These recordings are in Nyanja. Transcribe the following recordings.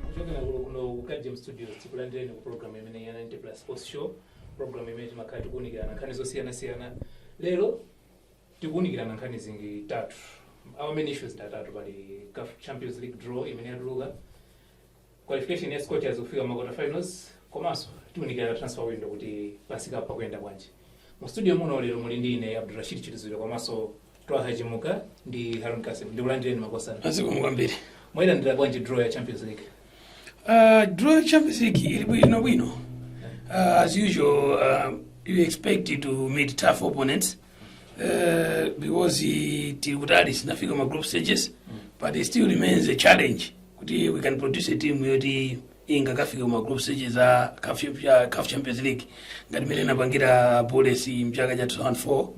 kuchokera kuno ku kajim studios tikulandireni ku program imene ya 90 plus sports show program imene timakhala tikuunikirana nkhani zosiyanasiyana lero tikuunikirana nkhani zing'ono zitatu our main issues atatu pali caf champions league draw imene yatuluka Qualification ya Scorchers kufika ma quarter finals komanso tiunikirana transfer window kuti pamsikapo pakuyenda bwanji. Mu studio muno lero muli ndi ine Abdulrashid Chituziro komanso Twaha Chimuka ndi Harun Kasim. Ndikulandireni makosana. Ah zikomo kwambiri. Mwayilandira bwanji draw ya Champions League? Uh, draw ya Champions League ili bwino bwino. Uh, as usual, uh, you expect to meet tough opponents. Eh, because eh, tili kutali sinafika ma group stages but it still remains a challenge kuti we can produce a team yoti ingakafika ma group stages a CAF cha- CAF champions league ngati mmene inapangira bullets mchaka cha 2004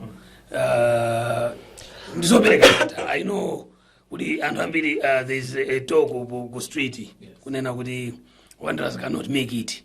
uh, ndizopereka kata i know kuti anthu ambiri uh, there is a talk ku, ku street kunena kuti wanderers cannot make it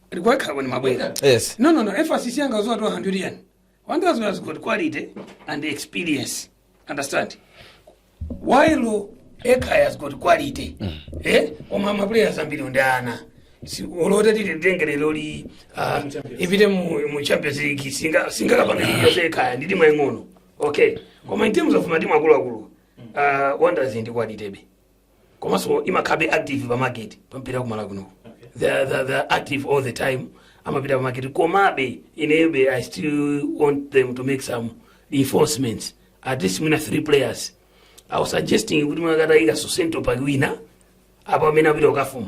Alikuwa kama ni mabwenga. Yes. No, no, no. Emphasis yanga was watu wa Honduran. Honduras has got quality and experience. Understand? While Eka has got quality. Eh? Oma maplayers ambiri ndana. Si olota tili ndengere loli ah, ipite mu, mu Champions League singa singa kapanga yose Eka ndidi mayengono. Okay. Koma in terms of matimu akulu akulu. Uh, Wanderers ndi quality be. komanso amakhalabe active pa market pa mpira ku malawi kuno they are, they are, they are active all the time amapita pa market komabe inebe i still want them to make some reinforcements at least mwina three players i was suggesting kuti akatayikaso centre back wina apa amene apita ukafuma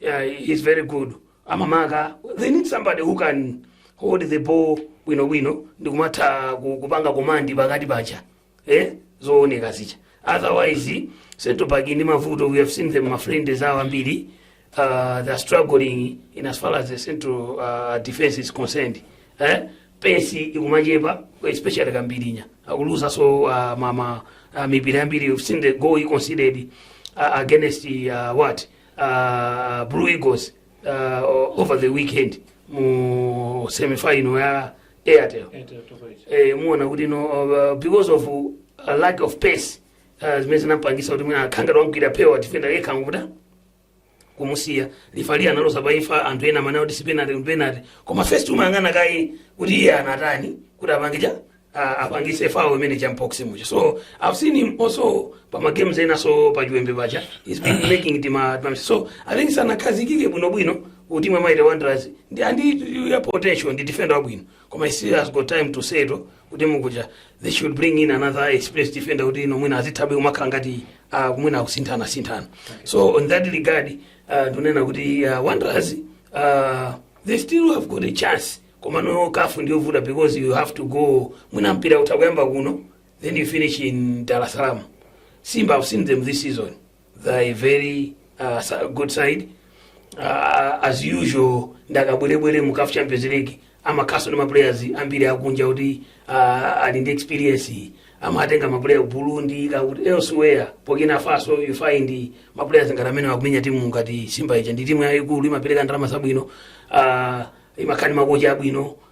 yeah, he's very good amamaka they need somebody who can hold the ball bwinobwino ndikumatha ku- kupanga komandi pakati pacha eh? zooneka zicha otherwise central park ndi mavuto we have seen them mafriends awo ambiri uh, they're struggling in as far as the central uh, defense is concerned eh? pesi ikumachepa especially kambirinya akuluza so uh, mama uh, mipira yambiri you've seen the goal he conceded uh, against uh, what uh, blue eagles uh, over the weekend mu semifinal ya airtel eh, muona kuti no uh, because of uh, lack of pace uh, zimene zinampangisa kuti mwina akhangati wamgwira pewa defender yekha ngukuta kumusiya lifali analowa paja anthu ena amene kuti disciplinary penalty koma first umayang'ana kaye kuti iye anatani kuti apange cha a- apangise foul imeneija mu box muja so i've seen him also pa ma games ena so pa chiwembe paja he's been making it ma ma- so i think sanakhazikike bwino bwino kuti mwa mighty wanderers ndi andi ya potential ndi defender wabwino koma he still has got time to settle kutimu kuja they should bring in another experienced defender kuti ino mwina azithabe kumakhala ngati uh, kumwina akusinthana sinthana so on that regard uh, ndinena kuti uh, wanderers uh, they still have got a chance komano caf ndiyovuta because you have to go mwina mpira utakuyamba kuno then you finish in dar es salaam simba i've seen them this season they're a very uh, sa- good side uh, as usual ndi akabwerebwere mu caf champions league amakhaso ndi maplayers ambiri akunja kuti uh, ali ndi experience amatenga maplayer ku burundi kakuti elsewhere burkina faso you find maplayers amene akumenya timu ngati simba ija ndi timu yayikulu imapereka ndalama zabwino uh, imakhala ndi makocha abwino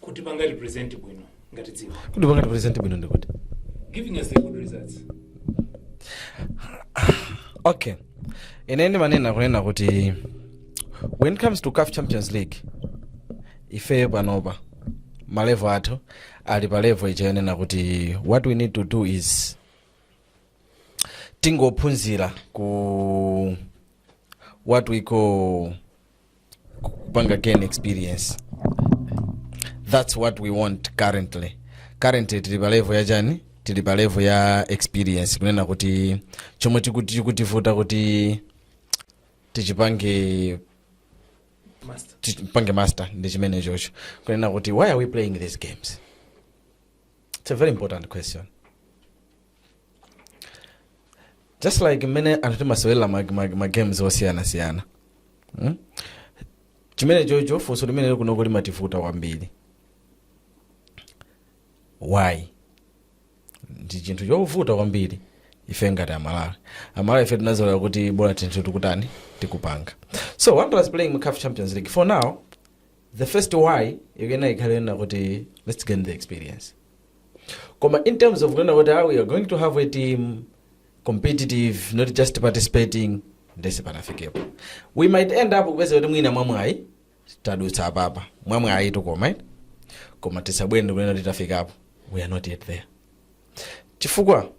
kutipanga represent bwino ngati dziko kutipanga represent bwino ndikuti giving us the good results okay ine ndimanena kunena kuti when it comes to caf champions league ifeyo panopa malevo athu ali pa levo ija yonena kuti what we need to do is tingophunzira ku what we call kupanga gain experience that's what we want currently currently tili pa level yachani tili pa level ya experience kunena kuti chomwe tikuti chikutivuta kuti tichipange tipange master ndi chimenechocho kunena kuti why are we playing these games it's a very important question just like mmene anthu timasewera ma, ma, ma games osiyanasiyana hmm? chimenechocho funso limene lili kunoko limativuta kwambiri why ndi chinthu chovuta kwambiri ife ngati amalawi amalawi ife tinazolowera kuti bola zinthu tikutani tikupanga so wanderers playing mu caf champions league for now the first why ikuyenera ikhale yonena kuti let's gain the experience koma in terms of kunena kuti ah, we are going to have a team competitive not just participating ndiye sitinafikepo we might end up kupeza kuti mwina mwamwayi tadutsa apapa mwamwayi tukoma eh? koma tisabwere n'kunena kuti tafikapo we are not yet there chifukwa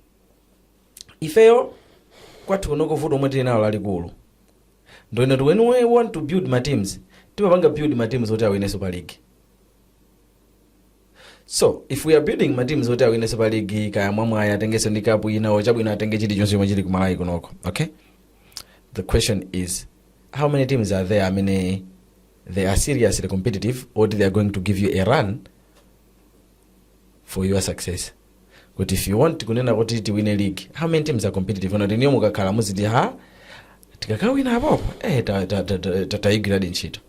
ifeyo kwathu kunoko vuto lomwe tili nalo lalikulu ndi lonena when we want to build ma teams timapanga build ma teams oti awine super league so if we are building ma teams oti awine super league kaya mwamwayi atengenso ndi kapu ina or chabwino atenge chilichonse chomwe chili kumalawi kunoko okay the question is how many teams are there amene they are seriously competitive or they are going to give you a run for your success kuti if you want kunena kuti tiwine league how many teams are competitive oti inuyo mukakhala muziti ha tikakawina apapa eh ta- ta- ta- ta- ta- tayigwiradi ntchito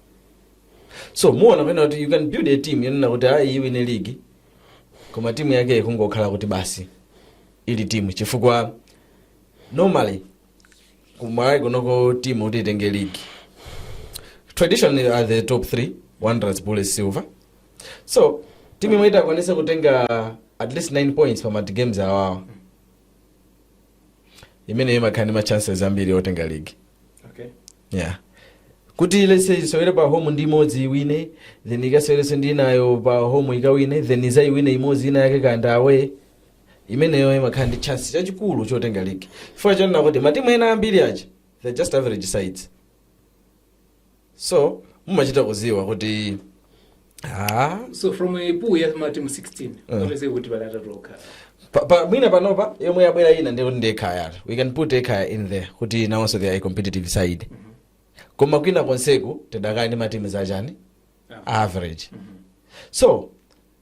so muona kunena kuti you can build a team yonena kuti ayi iwine league koma timu yake ikungokhala kuti basi ili timu chifukwa normally kumalawi kunoko timu kuti itenge league traditionally are the top 3 wanderers bullets silver so timu yomwe itakwanisa kutenga at least 9 points pa magames awawa imeneyo imakhala ndi ma chances ambiri otenga league okay yeah kuti let's say isewere pa home ndi imodzi iwine then ikasewerenso ndi inayo pa home ikawine then izaiwine imodzi ina yake kunja away imeneyo imakhala ndi chance chachikulu chotenga league chifukwa chonena kuti matimu ena ambiri aja they're just average sides so mumachita kudziwa kuti ah, so from a pool ya matimu 16 onese kuti pali atatu okhala pa, pa, mwina panopa yomwe yabwera ina ndi ndi ekhaya we can put ekhaya in there kuti nawonso they are a competitive side koma kwina konseku tidakali ndi matimu zachani average so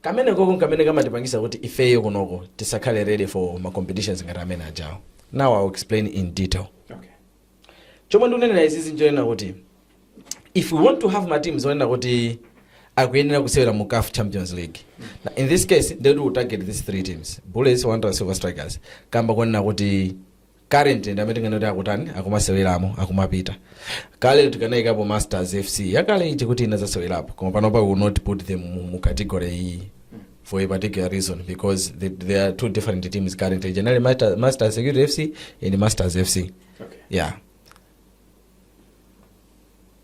kamene koko nkamene kamatipangisa kuti ifeyo kunoko tisakhale ready for ma competitions ngati amene ajawo now I'll explain in detail okay chomwe ndikunenera izizi nchonena kuti if we want to have ma teams onena kuti akuyenera kusewera mu caf champions league Now, in this case ndekuti we target these three teams bullets wanderers silver strikers kamba konena kuti currently ndi amene tinganena kuti akutani akumaseweramo akumapita kale tikanayikapo masters fc yakale ija kuti inazasewerapo koma panopa we will not put them mu, mu category iyi for a particular reason because the, there are two different teams currently generally Master, Masters Security FC and Masters FC. Okay. Yeah.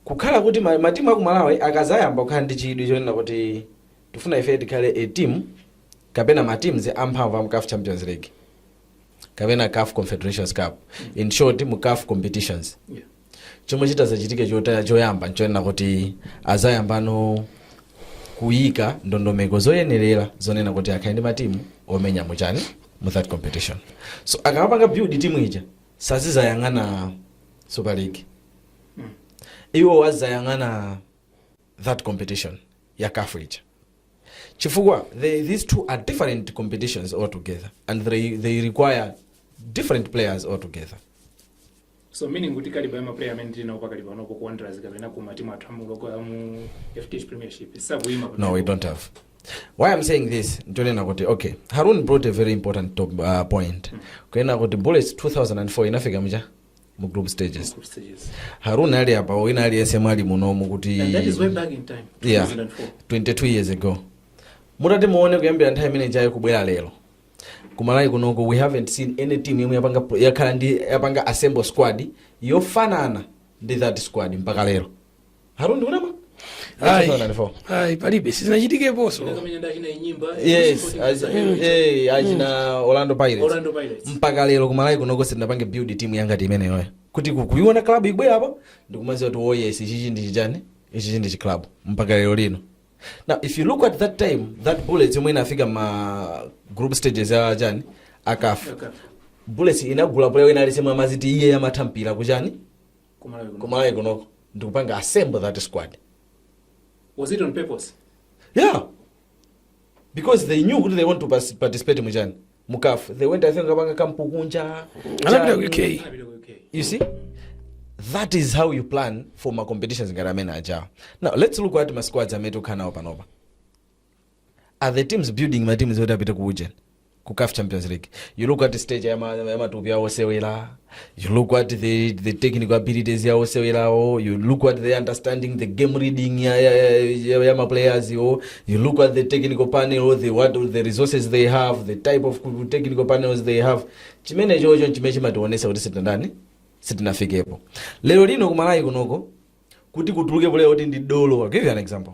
kukhala kuti ma- matimu aku Malawi akazayamba kukhala ndi chidwi chonena kuti tifuna ife tikhale a team kapena ma teams amphamvu amu caf champions league kapena caf confederations cup in short mu caf competitions Yeah. chomwe chitazachitike chota- choyamba nchonena kuti azayambano kuyika ndondomeko zoyenerera zonena kuti akhale ndi matimu omenya muchani mu that competition so akamapanga build timu ija sazizayang'ana super league iwo azayang'ana that competition ya caf ija chifukwa they, these two are different competitions altogether and they, they require different players altogether so meaning kuti kaliba ya maplayer amene tili nawo pakali panopa ku wanderers kapena ku matimu athu a mu local amu fdh premiership sakuyima no we don't have why i'm saying this nchonena kuti okay harun brought a very important top, uh, point kunena kuti bullets 2004 inafika mucha mu group stages Group stages. harun ali apa wina aliyense mwali munomu kuti And that is way back in time, yeah 2004. 22 years ago mutati muone kuyambira nthawi imene ijayo kubwera lero ku malawi kunoko we haven't seen any team yomwe yapanga yakhala ndi yapanga assemble squad yofanana ndi that squad mpaka lero Harun ndikunama? Ai. 2004. Ai, palibe sizinachitikeponso Yes, achi- eh, achina Orlando Pirates. Orlando Pirates. Mpaka lero ku Malawi kunoko sitinapange build team yangati imeneyo. Kuti ku- kuiona club ibwera apa ndikumaziwa kuti oh yes ichichi ndi chichani ichichi ndi chiclub mpaka lero lino. Now if you look at that time that Bullets yomwe inafika ma group stages ya chani a CAF. Bullets inagula player wina aliyense yemwe amadziti iye amatha mpira kuchani kumalawi kunoko ndikupanga assemble that squad was it on purpose yeah because they knew kuti they want to pas- participate muchani mukafu they went i think kukapanga kampu kunja anapita ku chani. UK Anapita ku UK. you see that is how you plan for ma competitions ngati amene ajawa now let's look at ma squads amene tikukhala nawo panopa are the teams building ma teams oti apite ku ujeni ku caf champions league you look at stage ya ma- ya matupi awo osewera you look at the, the technical abilities ya osewerawo you look at the understanding the game reading ya, ya, ya, ya, ya maplayers wo you look at the technical panel the, what, the resources they have the type of ku- technical panels they have chimene chocho chimene chimationesa kuti sitinandani sitinafikepo lero lino kumalawi kunoko kuti kutuluke player oti ndi dolo I'll give you an example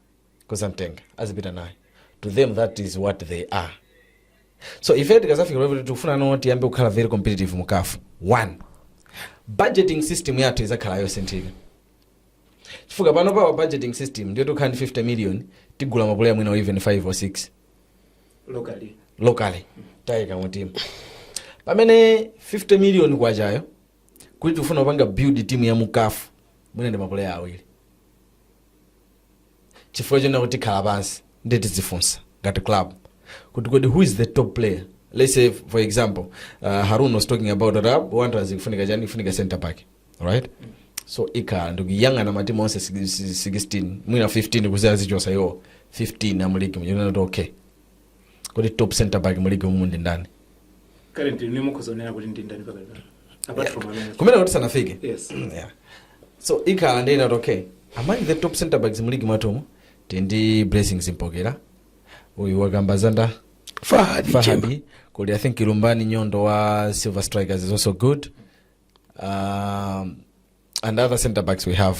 kuzamtenga azipita naye to them that is what they are so ife tikazafika level kuti tikufuna now tiyambe kukhala very competitive mu kafu one budgeting system yathu izakhala yosinthika chifukwa panopa budgeting system ndi yoti tikhala ndi 50 million tigula mapuleya mwina even 5 or 6 locally locally taika mutimu pamene 50 million kwachayo kuti tikufuna kupanga build team ya mukafu mwina ndi mapuleya awiri chifukwa chonena kuti tikhala pansi ndiye tidzifunsa ngati club kuti kodi who is the top player let's say for example uh, harun was talking about that uh, wanderers ikufunika chani ikufunika center back right so ikhala ndikuyang'ana matimu onse si- si- 16 mwina 15 kudziyadzichotsa iwo 15 amuligi n'kunena kuti okay kodi top center back mu ligi umu ndi ndani currently ni mukhoza kunena kuti ndi ndani pakati pano apart from amene tikumanena kuti sanafike yes yeah. so ikhala ndikunena kuti okay among the top center backs mu ligi mwathumu tili ndi blessings mpokera uyu wakamba za nda fahadi chemba fahadi kuli i think lumbani nyondo wa silver strikers is also good um, and other center backs we have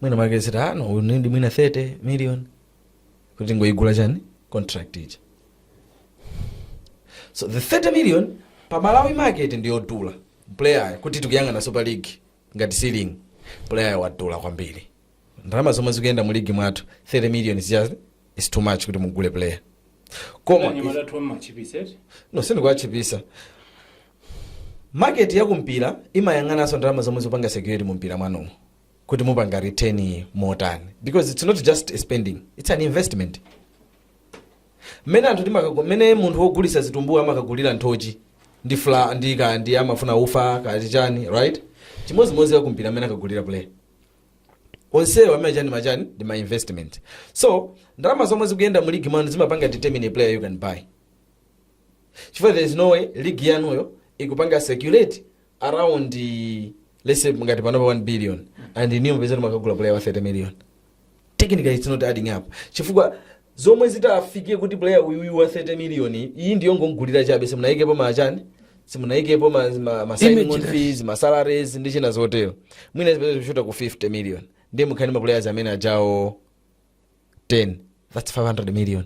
mwina mwake said no we need mwina 30 million kuti tingoyigula chani contract ija so the 30 million pa malawi market ndiyodula player kuti tikuyang'ana super league ngati ceiling player wadula kwambiri ndalama zomwe zikuyenda mu ligi mwathu 30 million is just is too much kuti mugule player koma Anyamata athu amachipisa eti? no sindikuwachipisa Market ya ku mpira imayang'ananso ndalama zomwe zikupanga circulate mu mpira mwanumo kuti mupanga return motani because it's not just a spending it's an investment mmene anthu timakago mmene munthu wogulitsa zitumbuwa amakagulira nthochi ndi fla ndi ka ndi amafuna ufa kachani right chimodzimodzi akumpira amene akagulira player onsewo amene chani machani ndi ma investment so ndalama zomwe zikuyenda mu ligi mwanu zimapanga determine a player you can buy chifukwa there is no way league yanuyo ikupanga circulate around eh, let's say ngati panopa 1 billion and inuyo mupeza kuti makagula player wa 30 million technically it's not adding up chifukwa zomwe zitafike kuti player uyuyu wa 30 million iyi, iyi ndiyo kungomugula chabe simunayikepo ma chani simunayikepo ma, ma, ma signing on fees ma salaries ndi china zotero mwina zipeza kushuta ku 50 million ndiye mukhale ndi ma players amene ajawo 10 that's 500 million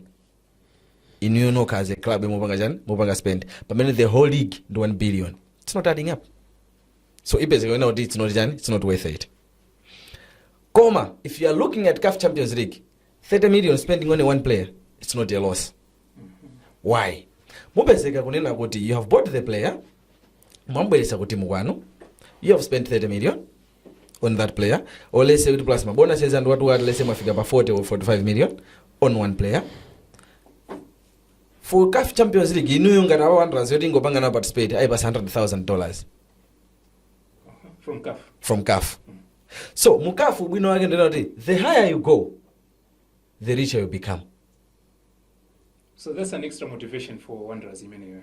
inuyo nokha as a club mupanga chani mupanga spend pamene the whole league ndi 1 billion it's not adding up so ipezeka kunena kuti it's not chani it's not worth it koma if you are looking at caf champions league 30 million spending on a one player it's not a loss why mupezeka kunena kuti you have bought the player mwambweresa ku timu kwanu you have spent 30 million on that player or let's say kuti plus mabonuses and what what let's say mwafika pa 40 or 45 million on one player for CAF Champions League inuyo ngati awa Wanderers yoti ingopanga nawo participate ayipasa 100,000 dollars from CAF. from CAF so mu CAF ubwino wake ndina kuti the higher you go the richer you become So that's an extra motivation for Wanderers imeneyo.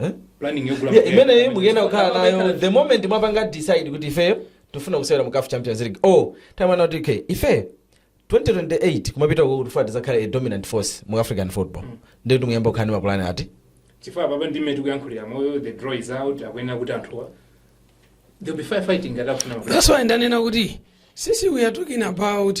Eh? planning yogula Yeah, player. imene mukuyenera kukhala nayo the moment mwapanga decide kuti ifeyo tifuna kusewera mu CAF champions league oh timanena kuti okay ifeyo 2028 kumapita uko kuti tifuna tizakhale a dominant force mu african football ndiye kuti muyamba kukhala ndi mapulani eti chifukwa apapa ndi mmene tikuyankhulira muno the draw is out akuyenera kuti anthuwa they'll be fire fighting ngati akufuna mapulani. that's why ndanena kuti sisi we are talking about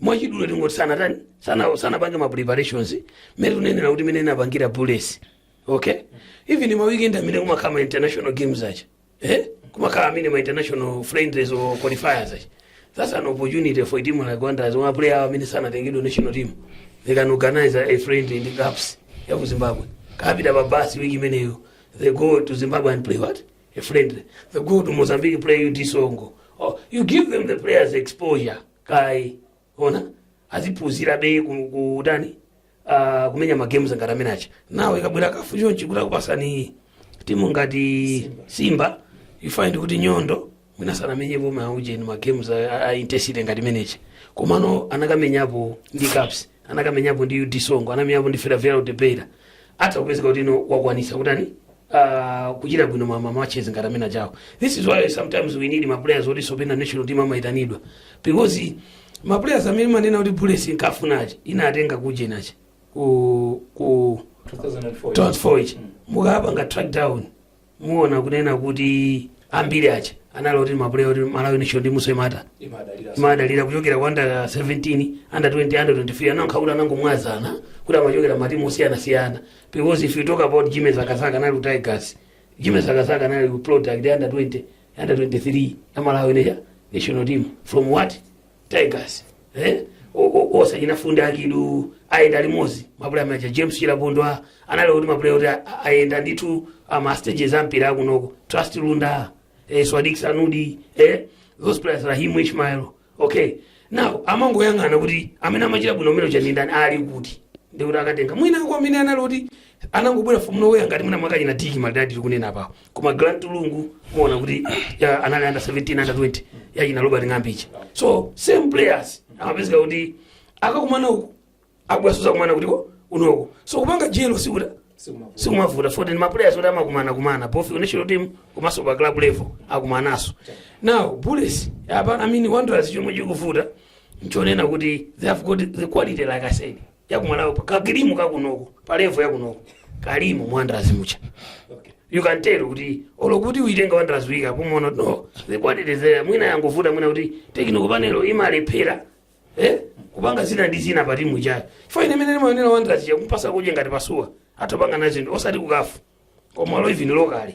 mwachidule tingoti sanatani sana sanapange ma preparations mmene tunenera kuti mmene inapangira bullets okay even ma weekend amene kumakhala ma international games aja eh kumakhala amene ma international friendlies or qualifiers aja that's an opportunity for a team like Wanderers wa player awo amene sanatengedwe national team they can organize a friendly in the Caps ya ku Zimbabwe akapita pa bus week imeneyo they go to Zimbabwe and play what a friendly. They go to Mozambique play UD Songo. Oh, you give them the players exposure. Kai, ana aziphunzirabe ku- kutani uh, kumenya magames ngati amene aja now ikabwera CAF chonchi kuti akupasani timu ngati simba you find kuti nyondo mwina sanamenyepo maujeni magames a, a intensity ngati imene ija komano anakamenyapo ndi caps anakamenyapo ndi ud songo anamenyapo ndi Ferroviário de Beira atha kupezeka kuti no wakwanisa kutani ah, kuchita bwino ma ma matches ngati amene ajawo this is why sometimes we need ma players oti osewera national team amaitanidwa because ma players amene manena kuti bullets inkafuna aja inatenga kujeni uja ku ku 2004 transfer ija mukapanga track down muona kunena kuti ambiri aja anali oti mapuleya oti malawi national timunso imata imadalira kuchokera ku under 17 under 20 under 23 anangokhala kuti anangomwazana kuti amachokera matimu osiyanasiyana because if you talk about jimmy zakazaka anali ku tigers jimmy zakazaka anali ku product ya under 20 under 23 ya malawi ya national team from what tigers eh? O- o- achina fundi akidu ayenda limodzi mapulaya anaja james chilapondwa analo kuti mapulaya kuti a- a- ayenda ndithu amastages ampira akunoko trust lunda eh, swadik sanudi eh? those players rahim ishmael okay now amangoyang'ana kuti amene amachita bwino umene uja ndi ndani ali kuti ndikuti akatenga mwina awo amene analo kuti anangobwera from nowhere ngati mwina mwake achina tiki madadi tikunena pawo koma grant lungu muona kuti iya, anali under 17 under 20 yachina robert ng'ambi uja so same players amapezeka kuti akakumana uku abweranso azakumana kutiko kunoko so kupanga jelo sikuta sikumavuta so then maplayers oti amakumana kumana both ku national team komanso pa club level akumananso now bullets apa i mean wanderers chomwe chikuvuta nchonena kuti they have got the quality like i said yakumalawi pa ka cream kakunoko pa levo yakunoko kali mu wanderers muja you can tell kuti olo kuti uitenga wanderers weak yapo muona kuti no the quality is there mwina yangovuta mwina kuti technical panel imalephera eh kupanga zina ndi zina pa timu ijayo chifukwa ine mmene ndimaonera wanderers yakumpatsa coach ngati pasuwa atopanga nayo zinthu osati kukafu koma olo even lokali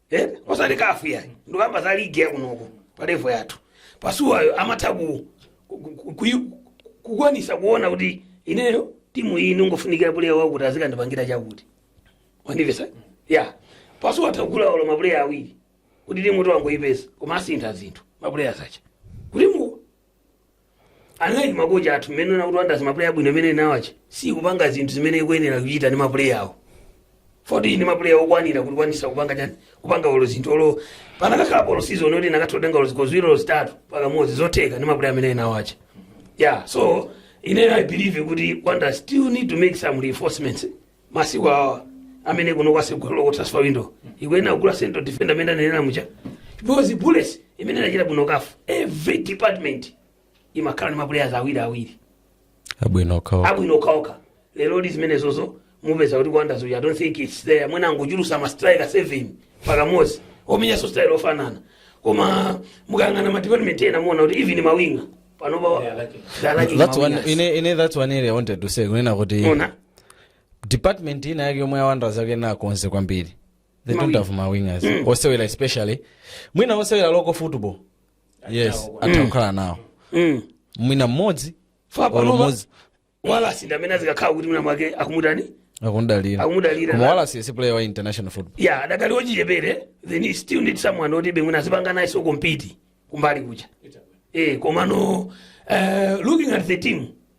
Eh, osati kafu ya ndikukamba za ligi yakunoko pa levo yathu pasuwayo amatha ku- ku- ku- kuyi- kukwanisa kuona kuti ineyo timu iyi ingofunikira puleya wakuti azikandipangira chakuti wandimvetsa ya pasuwa atha kugula olo mapuleya awiri kuti timu ti wangoyipeza koma asintha zinthu mapuleya zija kuti mu analili makocha athu mmenemo nakuti wanderers mapuleya abwino amene ili nawo aja sikupanga zinthu zimene ikuyenera kuchita ndi mapuleya awo poti ndi mapuleya okwanira kuti ikwanisa kupanga chani kupanga olo zinthu olo panakakhala pa olo season yoti inakatotenga olo zikho ziwiri olo zitatu pakamodzi zotheka ndi mapuleya amene ili nawo aja yeah so ine i believe kuti wanderers still need to make some reinforcements masiku awa amene kuli kotsegulako ku transfer window ikuyenera kugula central defender amene amanenera muja because bullets imene inachita bwino ku kafu every department imakhala ndi maplayers awiri awiri abwino okhaokha abwino okhaokha lero ndi zimenezozo mupeza kuti ku wanderers kuja i don't think it's there mwina angochulutsa ma striker seven pakamodzi omenyanso style ofanana koma mukayang'ana ma department ena muona kuti even mawinga panopa Yeah, I like it. I like it, that's one mawinga. ine ine that's one area i wanted to say kunena kuti Mona. department ina yake yomwe awanders akuyenera akonze kwambiri they don't have mawingers osewera especially mwina osewera local football yes atha kukhala nawo Mm. mwina mmodzi fine panopa mmodzi wallace ndi amene azikakhala kuti mwina mwake akumutani akumdalira Akumudalira. koma wallace si player wa international football ya adakali ochichepere then you still need someone oti be mwina azipanga nayenso compete kumbali kuja eh komano uh, looking at the team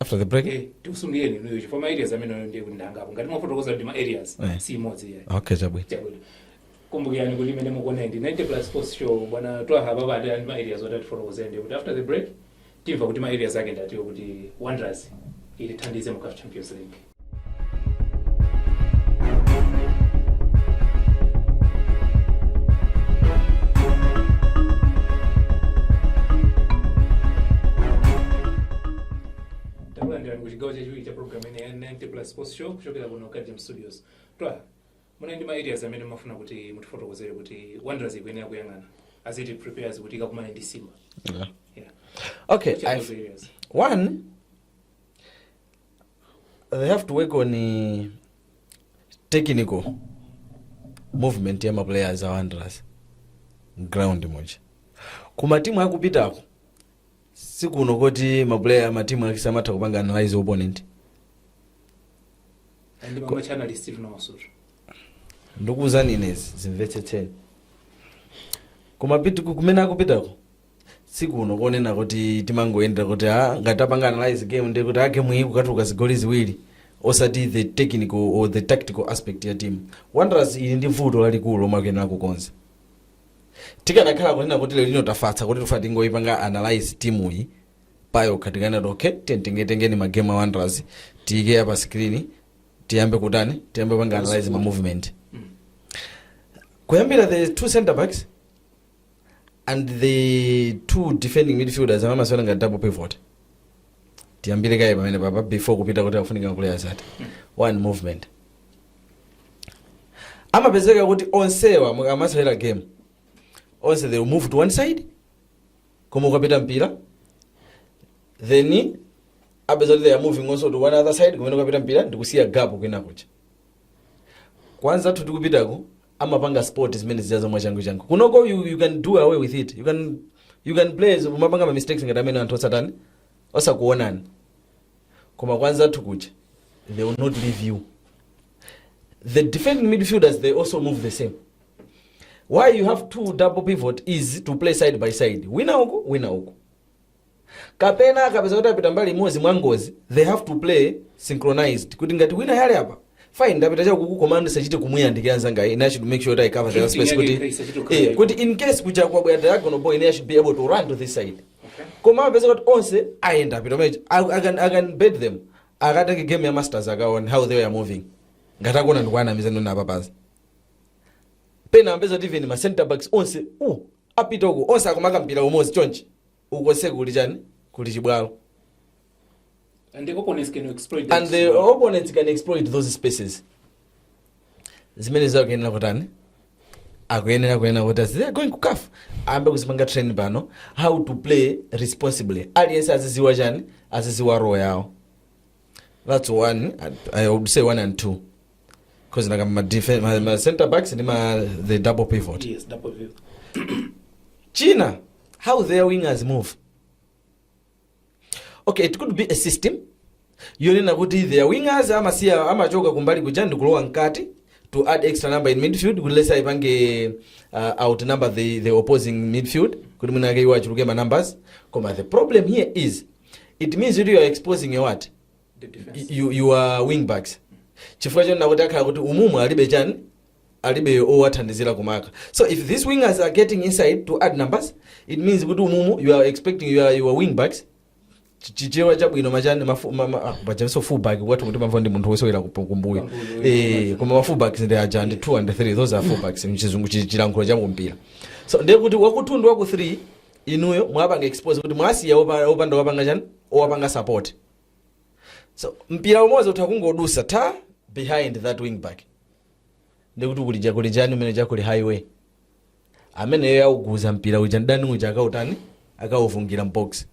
after the break Eh, tikusungireni inuyo chifukwa ma areas amene ayo ndiye kuti ndi angapo ngati mwafotokoza ndi ma areas Eh. si imodzi iyayi okay chabwino chabwino kumbukirani kuti imene mukuona ndi 90 plus sports show bwana twaha baba ati ali ndi ma areas oti atifotokozere ndiye kuti after the break timva kuti ma areas ake ndi atiwo kuti wanderers itithandize mu caf champions league takulandirani ku chigawo chachiwiri cha programu ino ya 90 plus sports show kuchokera kuno kajam studios twaha munali ndi ma areas amene mumafuna kuti mutifotokozere kuti wanderers ikuyenera kuyang'ana as it prepares kuti ikakumane ndi simba yeah. yeah. okay Which are I've- those areas? one they have to work on eh, technical movement ya maplayers a wanderers ground muja ku ma timu akupitako sikuno koti maplayer matimu aku CAF amatha kupanga analyze opponent ndi pamwe chanali steve nawasutu ndikuwuzani ine izi zimvetsetseni koma pitu kumene akupitako sikuno konena kuti timangoyendera kuti a ngati tapanga analyze game ndi kuti a game iyi kukatuluka zigoli ziwiri osati the technical or the tactical aspect ya team wanderers ili ndi vuto lalikulu lomwe akuyenera kukonza tikanakhala kunena kuti lero lino tafatsa kuti tifuna tingoyipanga analyze timu iyi payokha tikanati okay titengetengeni magame a wanderers tiyike apa screen tiyambe kutani tiyambe panga analyze ma movement kuyambira the two center backs and the two defending midfielders amene amasewera ngati double pivot tiyambire kaye pamenepapa before kupita kuti akufunika maplayers ati one movement amapezeka kuti onsewa mukamasewera game onse they will move to one side koma ukapita mpira then upeza kuti they are moving also to one other side kumene ukapita mpira ndikusiya gap kwina kuja kwa anzathu tikupitako amapanga spot zimene zijazo mwachangu changu kunoko you, you can do away with it you can, you can play zo- umapanga ma mistakes ngati amenewa anthu osatani osakuonani koma kwa anzathu kuja they will not leave you the defending midfielders they also move the same why you have two double pivot is to play side by side wina uku wina uku kapena akapeza kuti apita mbali imodzi mwa ngozi they have to play synchronized kuti ngati wina ali apa fine ndapita chakuku koma ndisachite kumuyandikira nzanga ine i should make sure that i cover the Kuti space kuti inyanyike, isachite kukhala eh, kuti in case kuja kwabwera diagonal ball ine i should be able to run to this side koma upeza kuti onse ayenda apita pamene I, I, can, i can bet them akatenge game ya masters akaone how they were moving ngati akuona ndikuwanamiza ndinaona apapa pena umapeza kuti even ma center backs onse uh, apita uko onse akumaka mpira umodzi chonchi uko konseko kuli chani kuli chibwalo And the opponents can exploit that. and the opponents can exploit those spaces zimene akuyenera kutani akuyenera kuyenera kuti as they are going ku CAF ayambe kuzipanga train pano how to play responsibly aliyense aziziwa chani aziziwa role yawo That's one. and I would say one and two. Because like my defense, my, my center backs and my the double pivot. Yes, double pivot. China, how their wingers move. Okay, it could be a system. Yonena kuti their wingers amasiya amachoka kumbali kuja ndi kulowa mkati to add extra number in midfield kuti lesa ipange uh, outnumber the, the opposing midfield kuti mwina ake iwo achuluke ma numbers koma the problem here is it means kuti you are exposing your what The defense. your, your wing backs chifukwa chonena kuti akhala kuti umumu alibe chani alibe owathandizira kumaka so if these wingers are getting inside to add numbers it means kuti umumu you are expecting your, your wing backs Chi- chichewa chabwino ma chani mafu- ma- ma- ah, pajanso fullback kwathu kuti amve ndi munthu wosewera kup- kumbuyo Kumbuyo, Eh, yes. koma mafullbacks ndi aja ndi 2 and 3 those are fullbacks mchizungu chi- chilankhulo cha kumpira so ndiye kuti wa ku 2 ndi wa ku 3 inuyo mwapanga expose kuti mwasiya opa- opanda wapanga chani owapanga support so mpira umodzi utha kungodusa ta behind that wing back ndiye kuti kuli kuja kuli chani kumene kuja kuli highway ameneyo akuguza mpira uja ndani uja akautani akauvungila mbox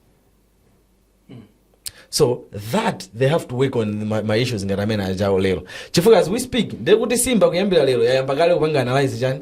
so that they have to work on ma, ma issues ngati amene ajawo lero chifukwa as we speak ndiye kuti simba kuyambira lero yayamba kale kupanga analyze chani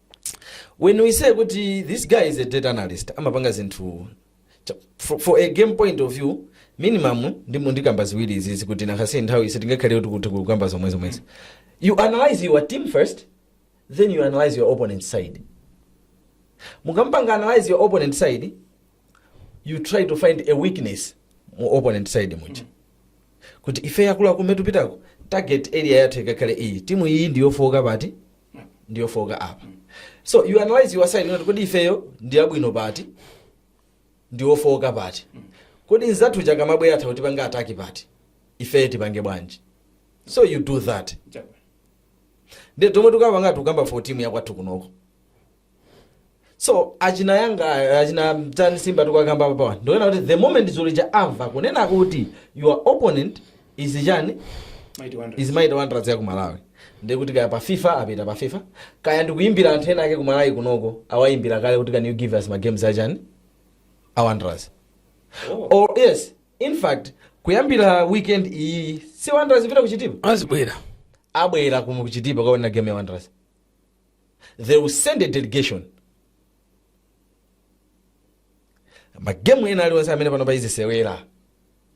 when we say kuti this guy is a data analyst amapanga zinthu cha- for, for a game point of view minimum ndimangokamba ziwiri izizi kuti because nthawi sitingakhale kuti kuti kukamba zomwe zomwezi you analyze your team first then you analyze your opponent side mukamapanga analyze your opponent side you try to find a weakness mu opponent side muja kuti ife akuluakulu mmene tikupitako target area yathu ikakhale iyi timu iyi ndiyofowoka pati ndiyofooka apa so you analyze your side kuti kodi ifeyo ndiyabwino pati ndiyofooka pati kodi anzathu aja akamabwera atha kutipanga attack pati ifeyo tipange bwanji so you do that nde tomwe tukapanga tikukamba for timu yakwathu kunoko so achina Yanga achina ndani Simba tikukamba apawa ndi zonena kuti the moment dzulo lija amva kunena kuti your opponent is chani Mighty Wanderers. is mighty wanderers ya ku malawi ndiye kuti kaya pa fifa apita pa fifa kaya ndikuyimbira anthu ena ake ku malawi kunoko awayimbira kale kuti can you give us ma games achani a wanderers Oh. or yes in fact kuyambira weekend iyi si wanderers ipita kuchitipa azibwera, abwera kuchitipa kukaona game ya wanderers they will send a delegation magemu ena aliwonse amene pano payizisewera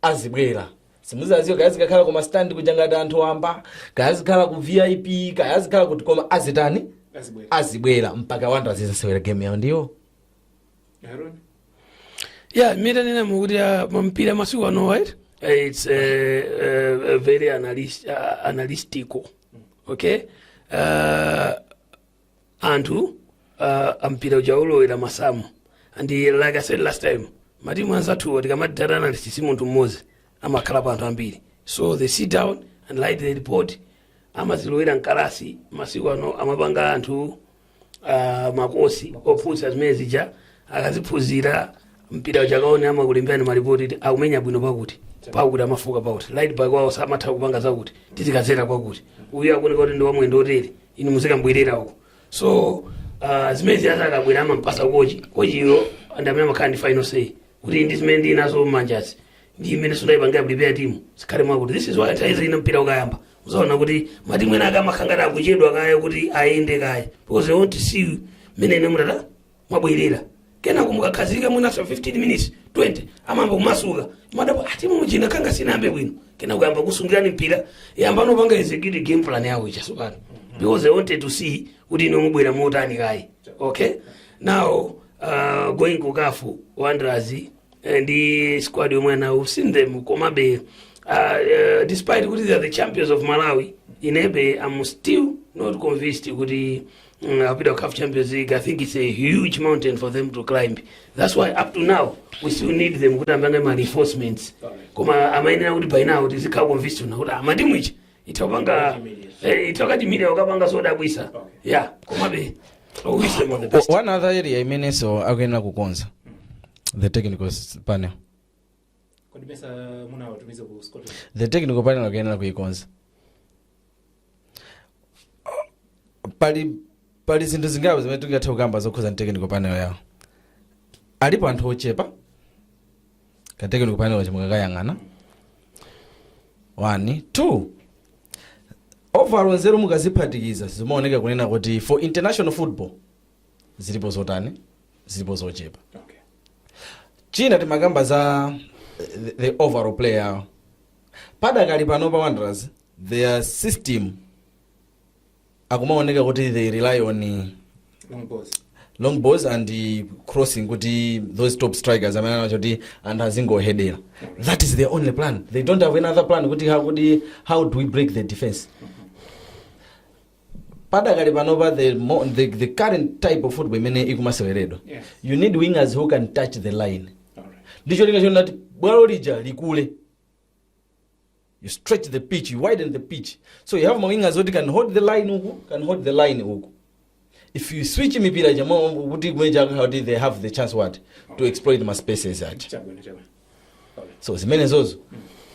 azibwera simuziwadziwa kaya zikakhala ku mastandi kuja ngati anthu wamba kaya zikhala ku vip kaya zikhala kuti koma azitani azibwera mpaka Wanderers izasewera game yawo ndiwo Yeah, mmene mukuonera mpira masiku ano right? Eh, It's uh, uh, uh, very analyst, uh, analytical. Okay? Uh, anthu uh, mpira uja ukulowera masamu and eh, like I said last time matimu anzathuwa tikamati data analyst si munthu mmodzi amakhalapo anthu ambiri so they sit down and write the report amazilowera mkalasi masiku ano amapanga anthu ah, makosi ophunzira zimene zija akaziphunzira mpira uja akaone amakulemberani malipoti kuti akumenya bwino pakuti pakuti amafooka pakuti right back wawo samatha kupanga zakuti tizikadzera kwakuti uyu akuoneka kuti ndi wamwendo otere inu muzikambwerera uko so uh, zimenezija akabwera amampatsa kochi kochiyo ndi amene amakhala ndi final say kuti ndi zimene ndinazo m'manjazi ndi imene ndayipangira prepare timu izikhale mwakuti this is why nthawi zina mpira ukayamba muzaona kuti matimu ena ake amakhala ngati akuchedwa kaye kuti ayende kaye because they want to see you mmene inu mwabwerera kenako mukakhazika mwinaso 15 minutes 20 amayamba kumasuka mumadabwa ati timu ija nanga sinayambe bwino kenako ayamba kusungirana mpira ayambano kupanga execute game plan yawo ija tsopano because they wanted to see kuti inu mubwera motani kaye okay now uh, going ku CAF wanderers Eh, ndi squad yomwe ali nayo we've seen them komabe uh, uh, despite kuti they are the champions of malawi inebe i'm still not convinced kuti mm, apita ku caf champions league i think it's a huge mountain for them to climb that's why up to now we still need them kuti apange ma reinforcements koma amayenera kuti by now tizikhala convinced kunena kuti timu ija itha kupanga eh, itha kukatiimira kukapanga zodabwitsa yeah komabe oh, wish them all the best. one other area imenenso akuyenera kukonza the technical s- panel kodi mesa munawatumiza ku scotland the technical panel akuyenera kuikonza pali pali zinthu zingapo zimene tingathe kukamba zokhudzana ndi technical panel yawo alipo anthu ochepa ka technical panel kake mukakayang'ana 1 2 overall nzeru mukaziphatikiza zimaoneka kunena kuti for international football zilipo zotani zilipo zochepa Okay. china timakamba za the, the overall play yawo padakali pano pa wanderers their system akumaoneka kuti they rely on eh, long balls, long balls and eh, crossing kuti those top strikers amene ali nawo kuti anthu azingohedera that is their only plan they don't have another plan kuti how, kuti how do we break the defense padakali panopa the, mo- the, the current type of football imene ikumaseweredwa Yes. you need wingers who can touch the line All right. ndi cholinga chonati bwalo lija likule you stretch the pitch you widen the pitch so you have mawingers oti can hold the line uku can hold the line uku if you switch mipira ija mukudziwa kuti they have the chance what to exploit ma spaces aja chabwino chabwino so zimenezozo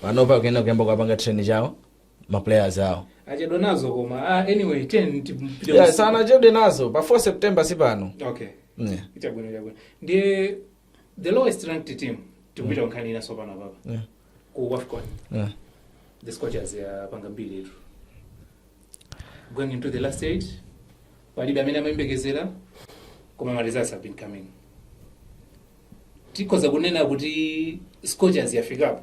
panopa kuyenda kuyamba kuwapanga train ujeni ma players awo achedwa nazo koma ah, anyway time ikupita yeah, sanachedwe nazo pa 4 september si pano okay yeah. chabwino chabwino ndiye the lowest ranked team tikupita mm. nkhani inaso panopa apa yeah. ku wafcon yeah. the scorchers yapanga mbiri yathu going into the last eight palibe amene amayembekezera koma ma results have been coming tikhoza kunena kuti scorchers yafikapo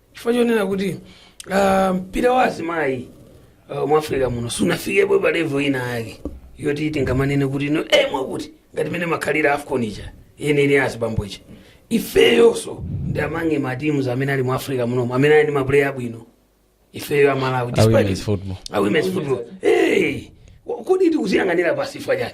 chifukwa chonena kuti ah, mpira wa azimayi ah, mu africa muno sunafikepo pa level ina yake yoti tingamanene kuti no eh, mwakuti ngati mmene imakhalira afcon ija yeniyeni ya azibambo ija ifeyonso ndi amongst matimu amene ali mu africa munomo amene ali ndi mapuleya abwino ifeyo a Malawi A women's football. a women's football hey, wa- kodi tikuziyang'anira pansi chifukwa chani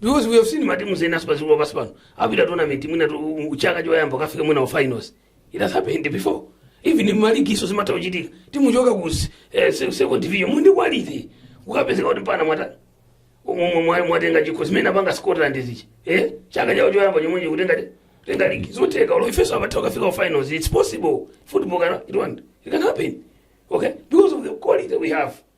because we have seen matimu ena osadziwika pansi pano apita tournament mwina tu- chaka choyamba kukafika mwina ma finals it has happened before even maligimu zimatha kuchitika timu kuchoka ku s- eh, se- second division muli ndi quality kukapezeka kuti mpaka mwata umwe mwa- mwatenga chikho zimene apanga Scottland zija eh chaka chawo choyamba chomwecho kutenga tenga ligi zotheka olo ifenso timatha kukafika ku finals it's possible football can it, want, it can happen okay because of the quality we have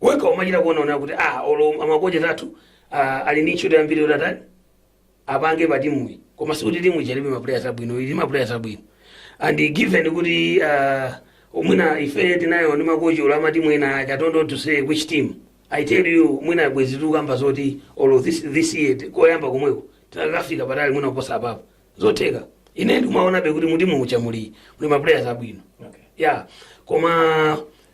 wekha umachita kuonaona kuti ah olo makochi athu ah, ali ndi ntchito yambiri yoti atani apange pa timuyi koma sikuti timu ija ilibe maplayers abwino ili ndi maplayers abwino and given kuti uh, mwina ife tinali ndi makochi a matimu ena aja I don't want to say which team i tell you mwina bwezi tikukamba zoti olo this, this year ti- koyamba komweko tikanafika patali mwina kuposa apapo zotheka ine ndikumaonabe kuti mutimu muja muli muli maplayers abwino Okay. ya koma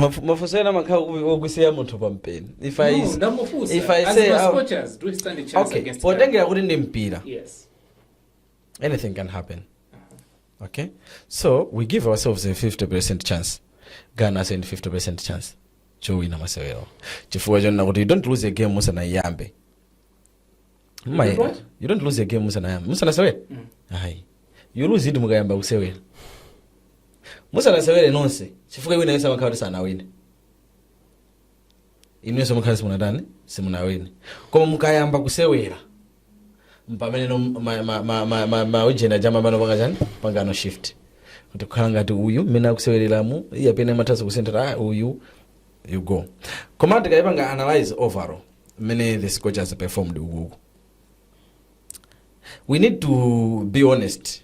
Mafu- mafunso ena amakhala oku- okusiya munthu pa mpeni if i, No, ndamufunsa. if I As say, ma uh, scorchers, do we stand a chance okay against Ghana? potengera kuti ndi mpira Yes. anything can happen okay so we give ourselves a 50% chance ghana ali ndi 50% chance yowina masewero chifukwa chonena kuti you don't lose a game musanayiyambe Mma- You don't what? you don't lose a game musanayamba musanasewere ayi you lose it mukayamba kusewera musanasewere nonse chifukwa winayonso amakhala kuti sanawine inuyonso mumakhala kuti simunatani simunawine koma mukayamba kusewera mpamene no ma- ma- ma- ma- ma- maujeni aja amapangano chani amapangano shift kuti kukhala ngati uyu mmene akusewereramu iyeyu pena amathanso kusentera ah, uyu you go koma tikayipanga analyze overall mmene the scorchers performed uku we need to be honest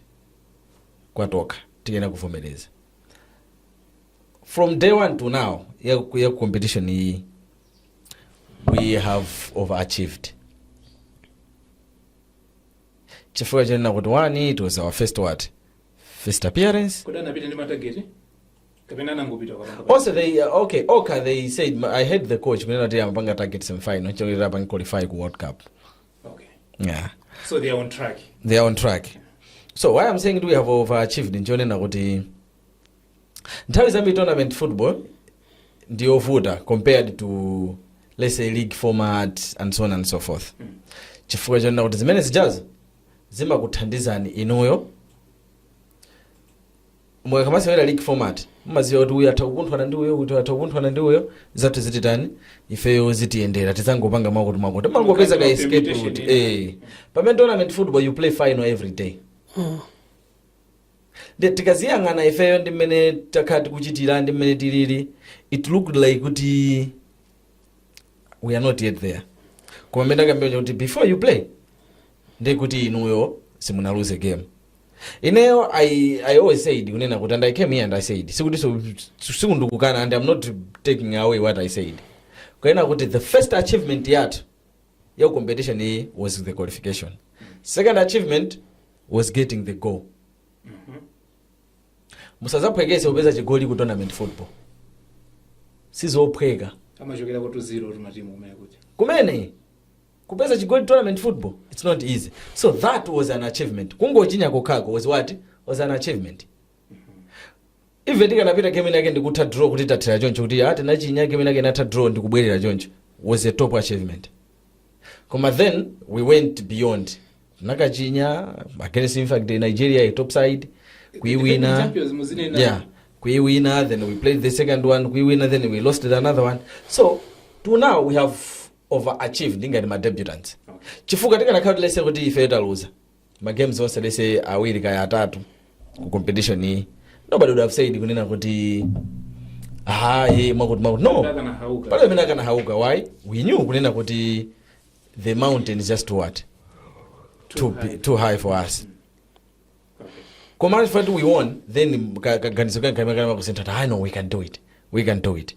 kwatokha tiyenera kuvomereza from day one to now ya, ya competition iyi we have overachieved chifukwa chanena kuti one it was our first what first appearance kodi anapita ndi ma target kapena anangopita kukapanga also they uh, okay oka they said "Ma- i heard the coach kunena kuti amapanga target semifinal cholinga apange qualify ku world cup okay yeah so they are on track they are on track so why i'm saying kuti we have overachieved nchonena kuti nthawi zambiri tournament football ndi yovuta compared to let's say league format and so on and so forth chifukwa chonena kuti zimene zijazo zimakuthandizani inuyo mukamasewera league format mumaziwa kuti uyu atha kukunthana ndi uyo uyu atha kukunthana ndi uyo zathu zititani ifeyo zitiyendera tizangopanga mwakuti mwakuti mumangopeza ka Mukakhala escape permutation route ina. eh pamene tournament football you play final every day Ndi- tikaziyang'ana ifeyo ndi mmene takhala tikuchitira ndi mmene tilili it looked like kuti we are not yet there koma mmene amakambira kuti before you play ndekuti inuyo simunaluze game ineyo I, i always said kunena kuti and i came here and i said sikuti so- sikuti ndikukana and i'm not taking away what i said kunena kuti the first achievement yathu ya competition iyi was the qualification second achievement was getting the goal musazaphwekese kupeza chigoli ku tournament football sizophweka amachokerako tu ziro matimu kumene kuti kumene kupeza chigoli tournament football it's not easy so that was an achievement kungochinya kokhako was what was an achievement even tikanapita game inake ndikutha draw kuti tathera choncho kuti ah tinachinya game inake inatha draw ndikubwerera choncho was a top achievement koma then we went beyond ndikukachinya against in fact nigeria a top side kuiwina Champions muzinena. yeah kuiwina then we played the second one kuiwina then we lost another one so to now we have overachieved ngati ma debutants chifukwa tikanakhala kuti let's say kuti ife taluza ma games onse let's say awiri kaya atatu ku competition iyi nobody would have said kunena kuti hayi mwakuti mwakuti no Akanahauka. palibe amene akanahauka why we knew kunena kuti the mountain is just what too, bi- too high for us koma if we won then ka- kaganizo kange kamene kanayamba kusintha hayi no we can do it we can do it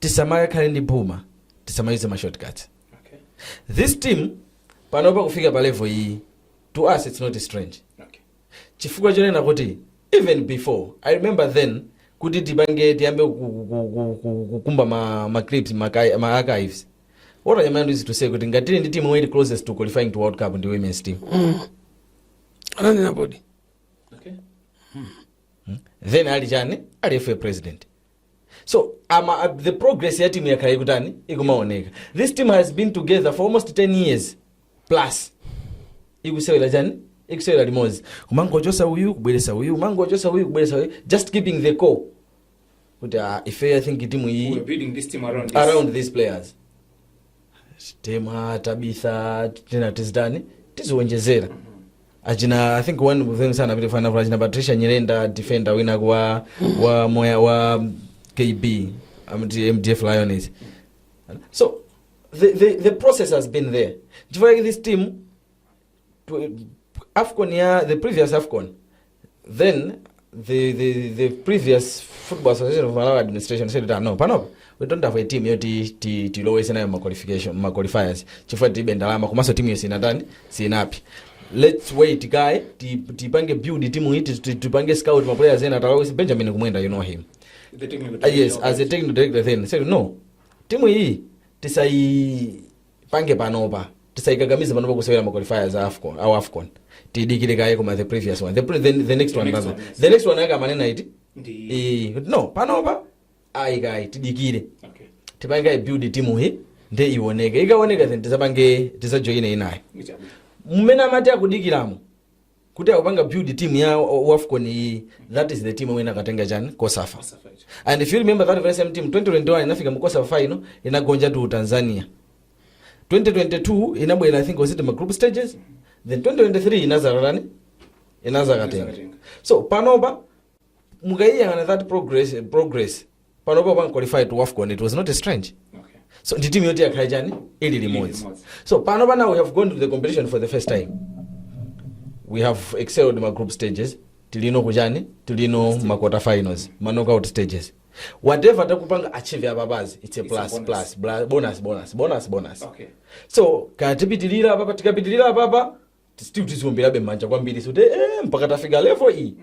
tisamakakhale ndi phuma tisamayuze ma shortcuts Okay. this team panopa kufika pa level iyi to us it's not strange Okay. chifukwa chonena kuti even before i remember then kuti tipange tiyambe ku- ku- ku- ku- ku- kukumba ma, ma clips ma, ki- ma archives what i mean is to say kuti ngati tili ndi team yomwe ili closest to qualifying to world cup ndi women's team ananena bodi Okay. Hmm? then ali chani ali FAM president so ama, uh, the progress ya timu yakhala ikutani ikumaoneka this team has been together for almost 10 years plus ikusewera chani ikusewera limodzi kumangochosa uyu kubweresa uyu kumangochosa uyu kubweresa uyu just keeping the core kuti ah, ife i think timu iyi We're building around these players temwa tabitha tina tizitani tiziwonjezera achina i think one of them sanapite achina patricia nyirenda defender wina wa wa moya wa kb mdf lioness so the, the, the process has been there chifukwa chake this team afcon ya the previous afcon then the, the, the previous football association of malawi administration said that no panopa we don't have a team yoti ti- tilowese nayo ma qualification ma qualifiers chifukwa tibe ndalama komanso timu yonse inatani sinapi let's wait guy ti- tipange build timu iti ti- tipange scout ma players ena talowese benjamin kumwenda you know him The technical Uh, yes, director. as a technical director then said no. Timu hii tisai tipange panopa tisayikakamize panopa kusewera ma qualifiers a afcon a wafcon tidikire kaye koma the previous one the, pre, the, the next one next rather. one, yes. the next one yake amanena kuti Ndi- Eh, no panopa ayi kaye tidikire okay. tipange build timu iyi nde ioneke ikaoneka then tizapange tizajoyine inayo mmene amati akudikiramo kuti akupanga build team ya o- wafcon iyi that is the team yomwe inakatenga chani kosafa and if you remember that very same team 2021 inafika mu kosafa final inagonja tu tanzania 2022 inabwera i think was it ma group stages then 2023 inazararani inazakatenga so panopa mukayiyang'ana that progress, progress panopa pan qualified to wafcon it was not strange Okay. so ndi timu yoti yakhala chani ili limodzi limodzi. so pano pana we have gone to the competition for the first time we have excelled ma group stages tilino kuchani tilino ma quarter finals ma knockout stages whatever takupanga achieve apapazi it's a It's a plus bonus. plus bla- bonus bonus bonus bonus Okay. so kaya tipitirira apapa tikapitirira apapa still tiziomberabe m'manja kwambiri kuti eh, mpaka tafika level iyi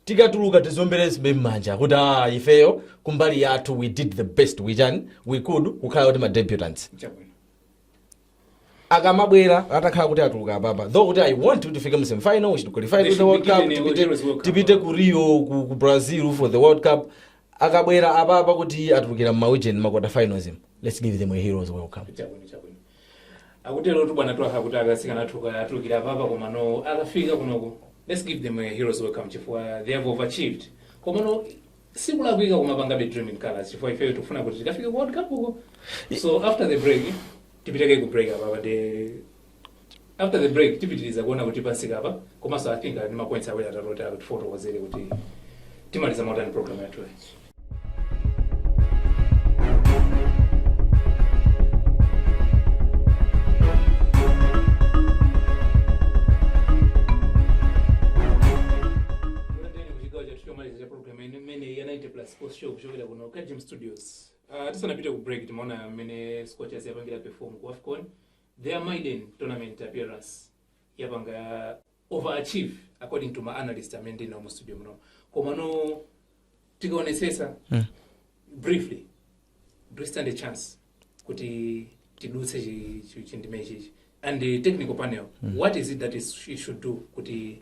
tikatuluka tiziomberabe m'manja kuti ah, ifeyo kumbali yathu we did the best we can we could kukhala kuti ma debutants chabwino akamabwera atakhala kuti atuluka apapa though kuti i want kuti tifike mu semifinal we should qualify to the world cup tipite- tipite ku rio ku, ku brazil for the world cup akabwera apapa kuti atulukira mmaujeni ma quarter finals let's give them a heroes welcome chabwino chabwino akuterotu bwana twaha kuti atsikana athu akatulukira apapa komano akafika kunoko let's give them a heroes welcome chifukwa they have overachieved komano sikulakwika kumapangabe dream in colors chifukwa ifeyo tikufuna kuti tikafike ku world cup uko so after the break tipiteko ku break apapa de After the break tipitiliza kuona kuti tafika pa komanso I think ali ndi ma points awiri atatu oti akutifotokozere kuti timaliza motani program yathu. show kuchokera kuno Kajim Studios. Uh, tisanapite ku break timaona mmene Scorchers yapangira perform ku AFCON Their maiden tournament appearance yapanga overachieve according to ma analyst amene ndinawo mu studio muno komano tikaonetsetsa briefly do we stand a chance kuti tidutse chi- chi- chindime ichichi and the technical panel what is it that it should do kuti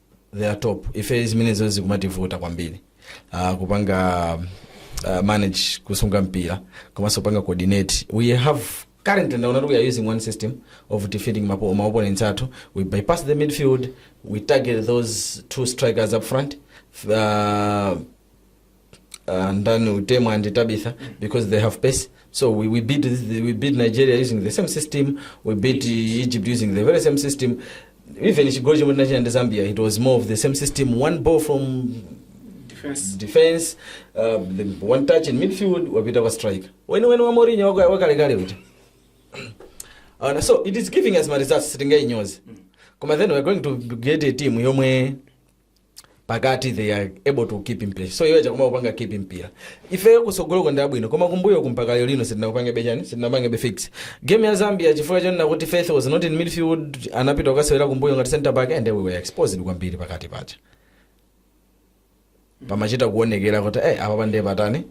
they are top ife zimenezo zikumativuta kwambiri uh, kupanga uh, manage kusunga mpira komanso kupanga coordinate we have currently ndaona kuti we are using one system of defeating mapo- ma opponents athu we bypass the midfield we target those two strikers up front uh, uh, ndani utemu and tabitha because they have pace so we, we beat this- we beat nigeria using the same system we beat uh, egypt using the very same system even chigoli chomwe tinachita ndi zambia it was more of the same system one ball from Defense. defense uh, the one touch in midfield wapita kwa striker weni weni wa Mourinho waka- wakalekale uti uh, so it is giving us ma results sitingainyozi koma then we're going to get a team yomwe pakati they are able to keep mpira so iwo akutha kupanga keep mpira ifeyo kutsogoloko ndi abwino koma kumbuyo mpaka lero lino sitinakupangebe chani sitinapangebe fix game ya zambia chifukwa chonena kuti faith was not in midfield anapita kukasewera kumbuyo ngati center back and we were exposed kwambiri pakati pacha pamachita kuonekera kuti eh apapa ndiye patani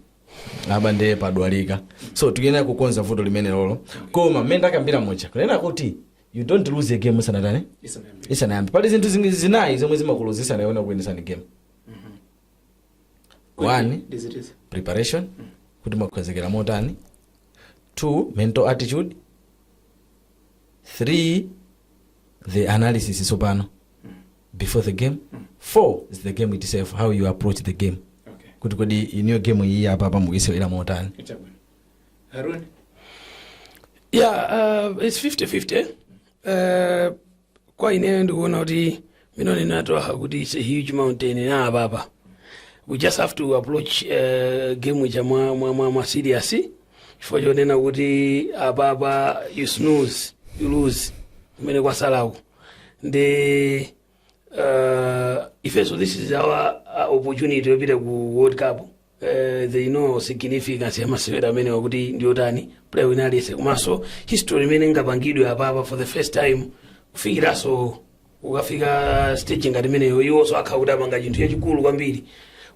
apa ndiye padwalika so tikuyenera kukonza vuto limenelolo koma mmene ndakambira muja kunena kuti you don't lose a game isanatani Isanayambe. isanayambe pali zinthu zingi- zinayi zomwe zimakuluzitsa ndi kuwinitsa game one Ndizitizi. preparation kuti mwakonzekera motani two mental attitude three the analysis tsopano before the game four is the game itself how you approach the game Okay. kuti kodi inuyo game iyi apapa mukuyisewera motani Itabwino. Harun? Yeah, uh, it's 50-50. Uh, kwa ineyo ndikuona kuti mmene wanenera Twaha kuti it's a huge mountain apapa. We just have to approach uh, game ija mwa, mwa, mwa, mwa serious. Chifukwa chonena kuti apapa you snooze, you lose. Kumene kwatsalaku. Ndi uh, ifenso this is our uh, opportunity yopita ku World Cup. eh, they know significance ya masewera amenewa kuti ndi otani player wina aliyense komanso history imene ingapangidwe apapa for the first time kufikiranso ukafika stage ngati imeneyo iwonso akhala kuti apanga chinthu chachikulu kwambiri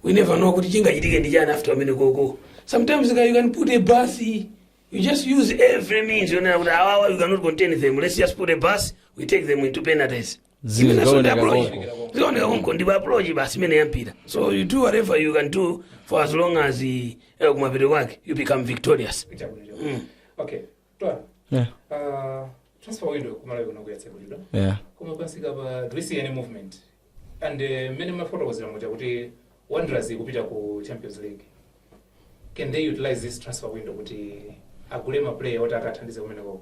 we never know kuti chingachitike ndi chani after kumenekoko sometimes you can put a bus you just use every means yonena kuti awawa you cannot contain them let's just put a bus we take them into penalties Imene so ndi Zioneka approach. konko. Zioneka konko ndipo approach basi imeneyo ya mpira. So you do whatever you can do for as long as eh, eh, kumapeto kwake you become victorious. okay Twaha Yeah. uh, transfer window kumalawi kunoku yatsekulidwa Yeah. koma pamsikapa do we see any movement and uh, mmene mwafotokozera muja kuti wanderers ikupita ku champions league can they utilize this transfer window kuti agule maplayer oti akathandize kumeneko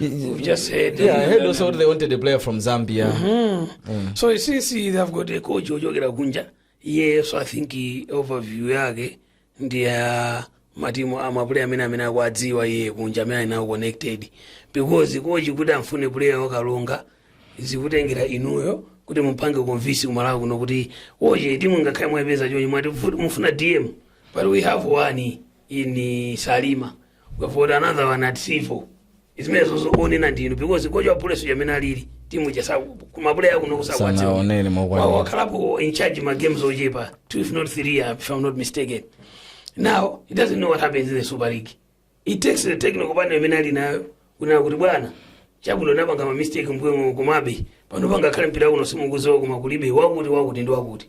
We've just heard. Yeah, I heard also they wanted a player from Zambia. So since they have got a coach wochokera kunja, yes, I think he- overview yake ndi ya matimu a mapuleya amene amene akuwadziwa iye kunja amene ali nawo connected because coach kuti amfune puleya wa Karonga zikutengera inuyo kuti mupange convince kumalawi kuno kuti coach timu ngakhale mwapeza chonchi mwati mufuna dm but we have one in salima we have got another one at Civo zimenezo zokuonena ndinu because kochi wa police amene alili timu ya kumapuleya kuno kusakwatsa Sanaonere mokwanira. wakhalapo in charge ma games ochepa two if not three uh, if i'm not mistaken now he doesn't know what happens in the super league it takes the technical panel imene ali nayo kunena kuti bwana chabwino napanga ma mistake mbwemo kumabe pano pangakhale mpira uno simukuziwa koma kulibe wakuti wakuti ndi wakuti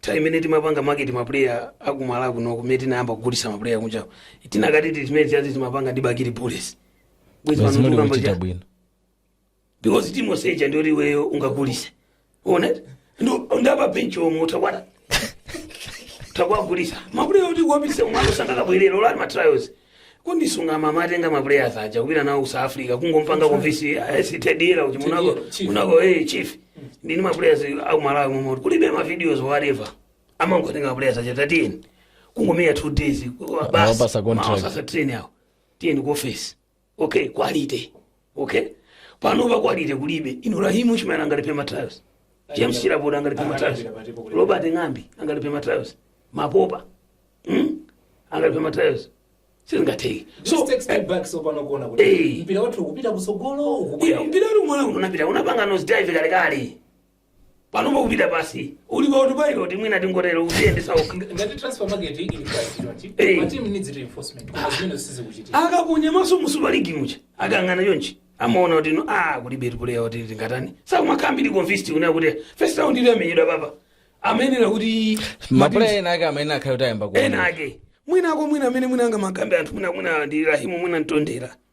time imene timapanga market maplayer aku Malawi kuno kumene tinayamba kugulisa maplayer kunja tinakati zimene zija timapanga ndi bakili bullets Bwezi pano zimene tikukamba kuchita cha- bwino because timu yonse ija ndi yoti iweyo ungagulise onse ndi a pa benchi omwe utha kutha kuwagulisa maplayer oti kuwapitisa kumalo sangakabwerera o- ngati matrials Kinnah Phiri amawatenga ma players aja kupita nawo ku South Africa kungompanga convince sitedira kuti mwinako Tedira, chief. mwinako eh chief ndili ndi ma players aku Malawi momwe kulibe ma videos whatever amangotenga ma players aja tatini kungomenya two days Awapasa contract. basi train yawo tiyeni ku office okay quality okay panopa quality kulibe ino Rahim Chimera angalipe matrials James Chilapondwa angalipe matrials Robert Ng'ambi angalipe matrials Mapopa mm? angalipe matrials sizingatheke so Just take step back so panopa mukuona kuti Eh. mpira wathu ukupita kusogolo ukubwera. mpira uli m'mwamba unapita unapanga nose dive kalekale panopa ukupita pasi uli pa autopilot mwina tingotero ukudziyendesa okha Nga- ngati transfer market ili quiet yet Eh. my team needs reinforcement koma zimene sizikuchitika akaponya maso mu super league muja akayang'ana chonchi amaona kuti no a kulibe player oti tingatani sakumakhala convinced kunena kuti first round ija yamenyedwa apapa amayenera kuti mapuleya ena ake amene akhale kuti ayamba ena kuoneka mwinako mwina amene mwina angamamukambe anthu mwina mwina ndi rahimu mwina mtondera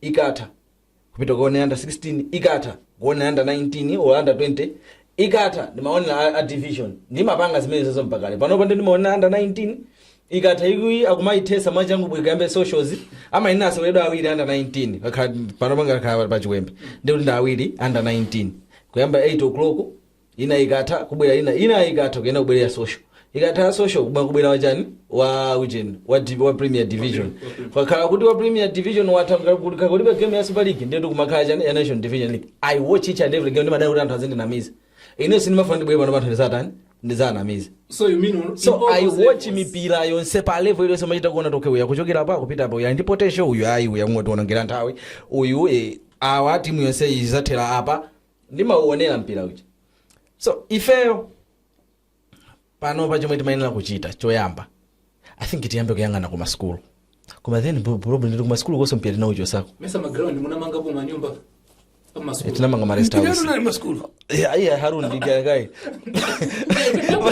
ikatha kupita kukaonera under 16 ikatha kuonera under 19 or under 20 ikatha ndimaonera a, a division ndimapanga zimenezozo mpakale panopa ndi ndimaonera under 19 ikatha iyi akumayitheza mwachangu kuti kuyambe socials amayenera aseweredwa awiri under 19 Pakhala- panopa mukakhala pa chiwembe ndikuti ndi awiri under 19 kuyamba 8 o'clock ina ikatha kubwera ina ina ikatha kuyenda kubwera social ikatha ya social kuba kubwera wachani wa ujeni wa, div- wa premier division kukakhala kuti wa premier division watha kaya kulibe game ya super league ndiye kumakhala chani ya national division league i watch each and every game ndimadana kuti anthu azindinamiza ine sindimafuna ndibwere pano panthu ndizatani ndizanamiza so you mean on- so in all i those watch levels. mipira yonse pa level iliyonse umachita kuona kuti okay uyu akuchokera apa kupita apa uyu ali ndi potential uyu ayi uyu akungotionongera nthawi uyu eh, awa timu yonse izathera apa ndimauonera mpira uja so ifeyo panopa chomwe timayenera kuchita choyamba i think tiyambe kuyang'ana ku masukulu koma then bu- problem ndi ku masukulu konso mpira tinauchosako mesa maground munamangapo manyumba Eh, amasukulu tinamanga ma rest house nali masukulu Yeah, yeah, harun ndigayakai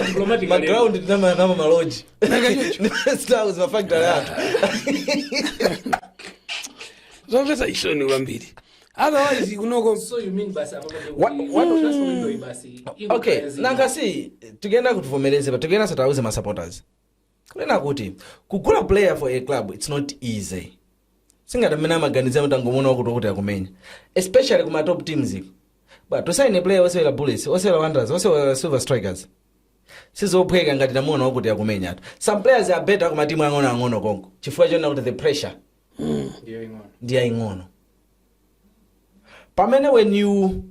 diplomatic maground tinamanga maloji rest house mafactory athu zomvesa chisoni kwambiri otherwise kunoko So you mean basi apa pake What- kuti- what- Trust me, ndio basi. Iko okay kazi. nanga si tikuyenera kuti tivomereze but tikuyeneranso tiwauze masupporters kunena kuti kugula player for a club its not easy singati mmene amaganizira kuti angomuona wakuti wakuti akumenya especially kuma top teams iko but to sign a player osewera bullets osewera wanderers osewera silver strikers sizophweka ngati tamuona wakuti akumenya atu some players are better kuma timu ang'onoang'ono konko chifukwa chonena kuti the pressure ndi yaing'ono ndi yaying'ono pamene when you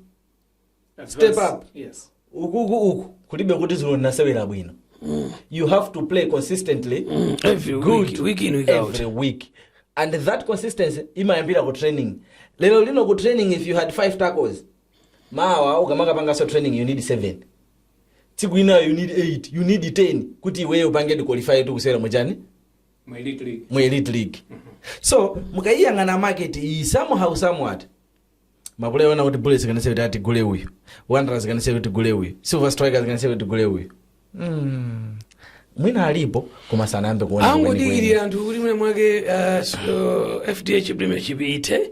Step up. yes ukuku uku kulibe kuti dzulo ndinasewera bwino you have to play consistently every good week, week in week out every week and that consistency imayambira ku training lero lino ku training if you had five tackles mawa ukamakapanganso training you need seven tsiku inayo you need eight you need ten kuti iweyo upangedi qualify to kusewera muchani mu elite league mu elite league so mukayiyang'ana market iyi somehow somewhat mapuleya onena kuti bullets can say kuti tigule uyu wanderers can say kuti tigule uyu silver strikers can say kuti tigule uyu Mm. mwina alipo koma sanayambe kuona kwenikweni. angodikirira anthu kuti mwina mwake uh, s- uh, fdh premiership ithe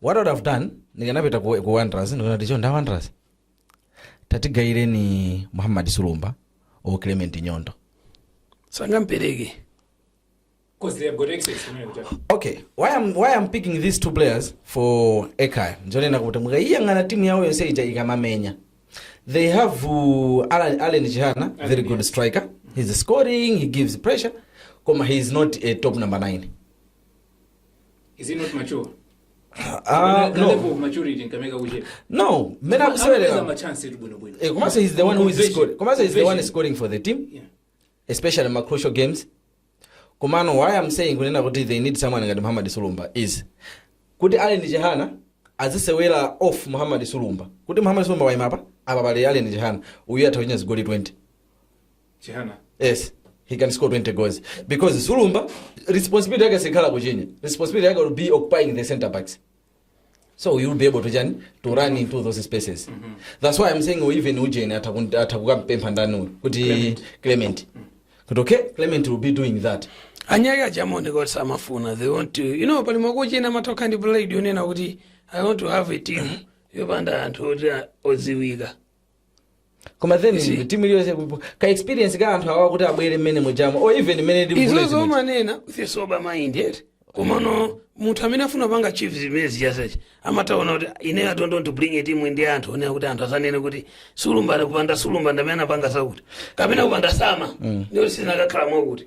what I would have done ndikanapita ku, ku wanderers ndikana ticho nda wanderers tatigaireni muhammad sulumba o clement nyondo sangampereke Because they have got excess. you know, which are- okay why I'm, why I'm picking these two players for ekaya njonena kuti mukayiyang'ana timu yawo yonse ija ikamamenya they have uh, Alan, Allen Chihana, very good striker he's scoring he gives pressure koma he is not a top number 9 is he not mature Ah, the no level of maturity nkameka kuchepa no mmene amapeza akusewera machance eti bwinobwino Eh, komanso he's the one who is Conversion. scoring komanso he's the one Conversion. scoring for the team Yeah. especially ma crucial games komano why i'm saying kunena kuti they need someone ngati muhammad sulumba is kuti allen chihana azisewera off muhammad sulumba kuti muhammad sulumba waimapa apa pali allen chihana uyu atha kuchinya zigoli 20 Chihana. yes he can score 20 goals because sulumba responsibility yake sikhala kuchinya responsibility yake will be occupying the center backs so you'll be able to chani to run into those spaces that's why i'm saying even ujeni ataku- atakukampempha ndani uyu kuti clement kuti okay clement will be doing that anyake achamoneka kuti samafuna they want to you know pali makochi ena amatokhala ndi pride yonena kuti i want to have a team yopanda anthu oti a- odziwika koma then Isi- timu iliyonse ka experience ka anthu awa kuti abwere mmene mujamo or even mmene ndi izozo bullet muja. umanena with a sober mind eti komano munthu amene afuna panga achieve zimenezi chasechi amataona kuti ine i don't want to bring a team ndi anthu onena kuti anthu asanene kuti sulumba kupanda sulumba ndi amene anapanga zakuti kapena kupanda sama ndikuti sinakakhala mwakuti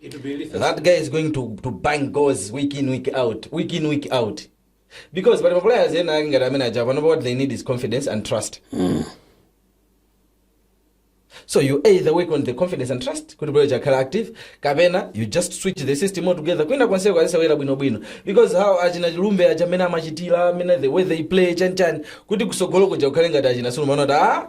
It will be lethal. that guy is going to, to bang goals week in week out week in week out because pali maplayers ena ake ngati amene aja panopa what they need is confidence and trust so you either work on the confidence and trust kuti abwere akhale active kapena you just switch the system altogether kwina konseko azisewera bwinobwino because how achina chilumbe aja amene amachitira amene the way they play chanchani kuti kusogolo kuja kukhale ngati achina sulumba aona kuti ah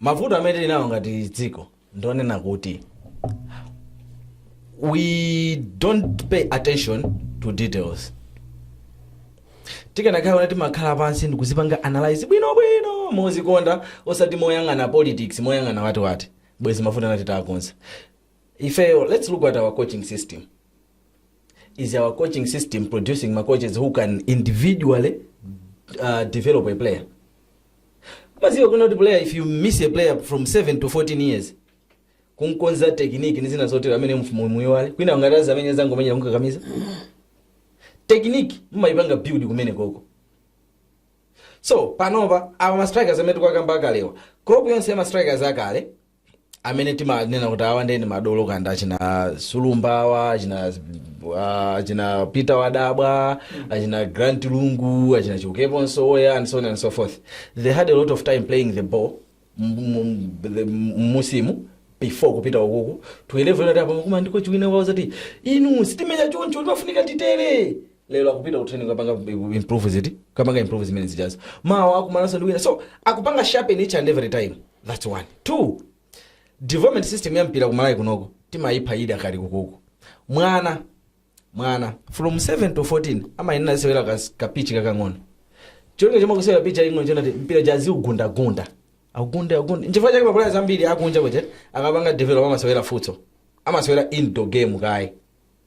Mavuto amene tili nawo ngati dziko ndi onena kuti we don't pay attention to details. Tikanakhala kuti timakhala pansi ndikuzipanga analyse bwinobwino mozikonda osati moyang'ana politics, moyang'ana watiwati bwezi mavuto ena titaakonza. Ifeyo let's look at our coaching system. Is our coaching system producing ma coaches who can individually uh, develop a player? maziwa kunena kuti player if you miss a player from 7 to 14 years kunkonza tekiniki ndi zina zotero amene mfumu muyiwale kwina angazamenye azangomenyera kukakamiza tekiniki mumayipanga build kumenekoko so panopa awa mastrikers amene tikuwakamba akalewa crop yonse ya mastrikers akale amene timanena kuti awa nde ndi madolo kaya ndi achina sulumba awa achina ah, achina peter wadabwa achina grant lungu achina chiukepo msowoya and so on and so forth they had a lot of time playing the ball m- m- the- m'muzimu before kupita ukuku ku level yonena kuti apa makumana ndi kochi wina akuwauza ati inu sitimenya choncho timafunika titere lero akupita ku training kukapanga improve ziti kukapanga improve zimene zijazo mawa akumananso ndi wina so akupanga sharpen each and every time that's one two development system ya mpira ku malawi kunoko timayipha idakali kukuku mwana mwana from 7 to 14 amayenera asewere kas- kapichi kakang'ono cholinga chomwe akusewera pitch yaing'ono chonena kuti mpira uja aziugundagunda agunda agunda nchifukwa chake maplayers ambiri akunja kuti akapanga develop amasewera futsal amasewera indoor game kaye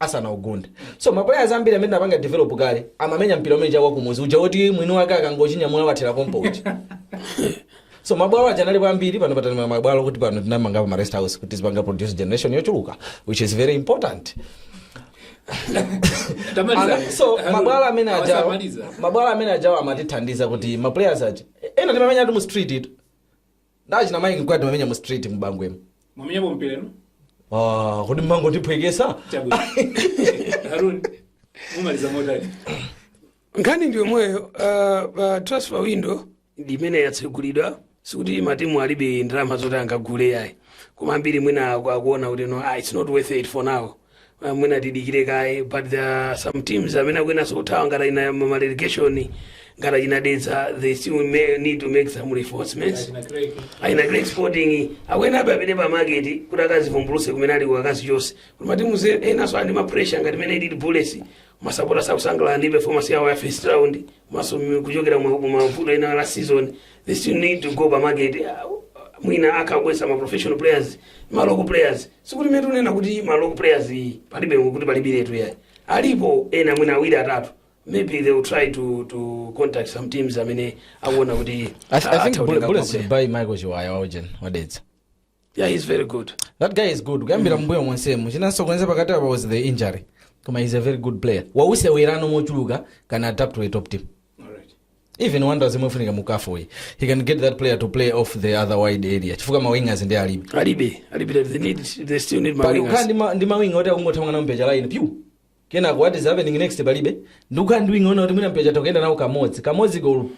asanaugunde so maplayers ambiri amene apanga develop kale amamenya mpira umene uja wa kumuzi uja woti mwini wake akangochinyamula wathera pompo uja so mabwalo aja analipo ambiri pano patani mabwalo kuti pano tinamangapo ma rest house kuti tizipanga produce generation yochuluka which is very important Tamaliza. Ana- so Hello. mabwalo amene ajawo Awa samaliza. mabwalo amene ajawo amatithandiza kuti maplayers aja ena timamenya ati mu street itu ndi achina mike mkwate timamenya mu street mu bangwemu mwamenyapo mpira inu Ah, kodi mmangondiphwekesa chabwino haruni mumaliza motani nkhani ndi yomweyo uh, uh, transfer window ndi imene yatsegulidwa sikuti matimu alibe ndalama zoti angagule yayi koma ambiri mwina aku- akuona kuti no ah, it's not worth it for now Ah, mwina tidikire kaye but there are some teams amene akuyeneranso kuthawa ngati aina relegation ngati achina dedza they still may need to make some reinforcements aina Creck Sporting akuyenerabe apite pa market kuti akazivumbuluse kumene ali akazi chonse kuti matimu enanso andi ma pressure ngati mmene ilili Bullets masapota sakusangalala ndi performance yawo ya first round komanso kuchokera mu mu mavuto ena last season they still need to go pa market ah, mwina akagwetsa ma professional players ma local players sikuti mmene tikunena kuti ma local players palibe kuti palibiretu yayi alipo ena mwina awiri atatu maybe they will try to to contact some teams amene akuona kuti I, th- I atha think kutenga Bull- Bullets maplayer. should buy Michael Chiwaya waujeni wadedza. yeah he's very good That guy is good. Kuyambira mbuyo monsemu. Chinamusokoneza pakati apa was the injury. Koma he's a very good player. Wasewerano mochuluka can adapt to a top team. even Wanderers imene ikufunika mu CAF uyi he can get that player to play off the other wide area chifukwa ma wingers ndi alibe alibe alibe they need they still need ma pali kukhala wingers ndi ma- ndi mawinga oti akungothamanga nawo mpira cha line pyu kenako what is happening next palibe ndi kukhala ndi winga woti mwina mpecha tokuyenda nawo kamodzi kamodzi go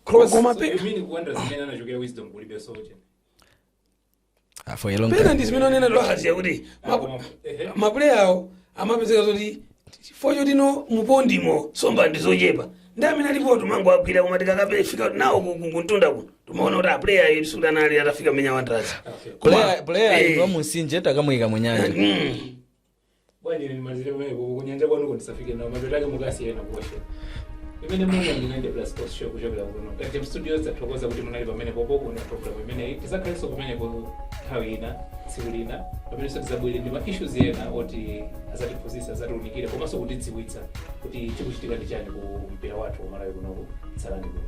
cross koma pe You mean ku Wanderers mmene anachokera wisdom kulibe sote. for long pena ndi zimene amanena Lwazi yakuti mapu- mapuleya awo amapezeka zoti chifukwa choti ndi mu pond mo nsomba ndi zochepa ndi amene alipo timangowagwira koma tikakape fika nawo ku- ku- kumtunda kuno timaona kuti apuleyawatu sikuti anali atafika mmene a Wanderers player player Eh. wa mumtsinje takamuika munyanja Bwanji ine ndimalizire pamenepo ku kunyanja kwanuko ndisafike nawo mapeto ake mukasiye ena kuwasha. Imeneyo inali 90 plus sports show kuchokera kuno. Kati studios tathokoza kuti munali pamenepo pa program imeneyi. Tizakhalenso kumeneko nthawi ina tsiku lina pamenenso tizabwere ndi ma issues ena oti azatiphunzitsa azatiunikire komanso kutidziwitsa kuti chikuchitika ndi chani ku mpira wathu wa Malawi kuno tsalani kuno.